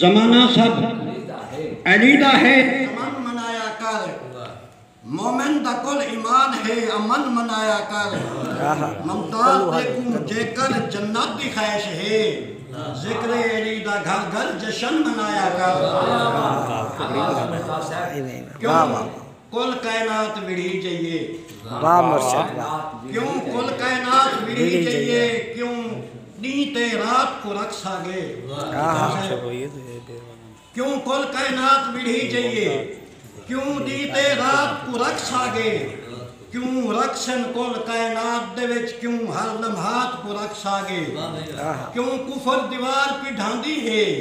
زمانہ سب علی دا ہے۔ امن منایا کر مومن دا کل ایمان ہے امن منایا کر ممتاز دے کوں جیکر جنت دی خواہش ہے ذکر علی دا گھر گھر جشن منایا کر۔ کل کائنات وڑھی جئیے۔ واہ مرشد واہ۔ کیوں کل کائنات وڑھی جئیے۔ کیوں ݙینہہ تے رات کوں رکھ ساڳے۔ کیوں کل کائنات وڑھی جئیے۔ کیوں ݙینہہ تے رات کوں رکھ ساڳے۔ کیوں رکھسن کل کائنات دے وچ کیوں ہر لمحات کوں رکھ ساڳے۔ کیوں کفر دیوار پیڈھاندی ہے۔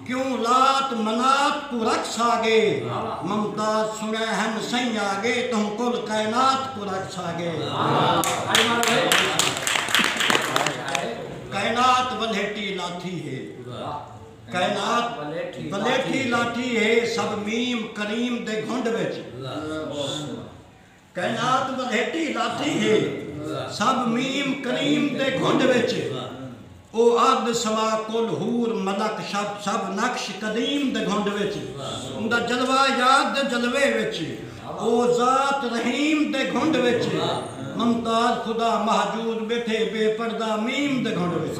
کیوں لات منات کوں رکھس آگے ممتاز سنڑے ہن سئیں آگے تہوں کل کائنات کوں رکھس آگے کائنات ولیٹی لاتھی ہے کائنات ولیٹی لاتھی ہے سب میم کریم دے گھنڈ وچ کائنات ولیٹی لاتی ہے سب میم کریم دے گھنڈ وچ او ارد سما کل حور ملک شب سب نقش قدیم دے گھنڈ وچ اوندا جلوہ یار دے جلوے وچ او ذات رحیم دے گھنڈ وچ ممتاز خدا محجود بیٹھے بے پردہ میم دے گھنڈ وچ۔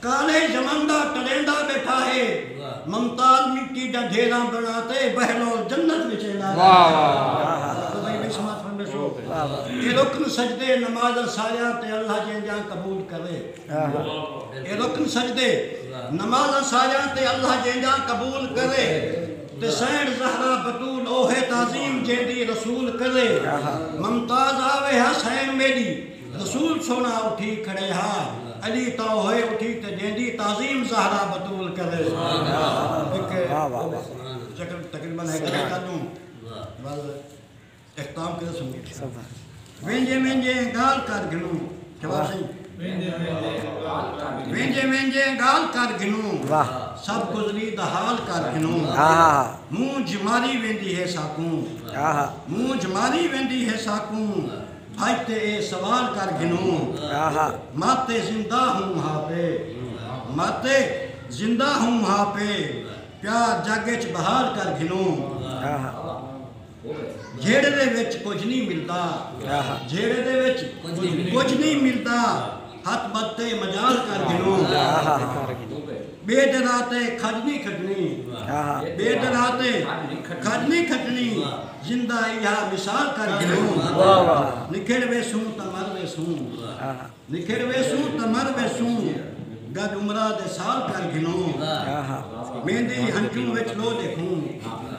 کالے یمن دا ٹریندا ٻیٹھا ہے ممتال مٹی دا ڈھیرا بنا تے بہلول جنت وچ ایندا ہے اے رکن سجدے نمازاں ساریاں تے اللہ جیندیاں قبول کرے اے رکن سجدے نمازاں ساریاں تے اللہ جیندیاں قبول کرے تے سینٹ زہرا بتول اوہے تعظیم جیندی رسول کرے ممتاز آوے حسین میڈی رسول سوہݨا اٹھی کھڑے ہا، علی تاں ہوئے اٹھی تے جیندی تعظیم زہرا بتول کرے۔ وینجے وینجے گالھ کر گھنوں۔ شہباز سئیں۔ وینجے وینجے گالھ کر گھنوں۔ سب گزری دا حال کر گھنوں۔ مونجھ ماری ویندی ہے ساکوں۔ مونجھ ماری ویندی ہے ساکوں۔ اج تے اے سوال کر گھنوں ماتے زندہ ہوں ہا پے ماتے زندہ ہوں ہا پے پیار جگ اچ بحال کر گھنوں جھیڑے دے وچ کجھ نی ملدا جھیڑے دے وچ کجھ نی ملدا۔ ہتھ ٻدھ تے مجال کر گھنوں ٻے ڈرا تے کھڄ نی کھڄنی ٻے ڈرا تے کھڄ نی کھڄنی زندہ ایہا مثال کر گھنوں نکھڑ ویسوں تاں مر ویسوں نکھڑ ویسوں تاں مر ویسوں گݙ عمراں دے سال کر گھنوں میندی ہنجوں وچ لو ݙیکھوں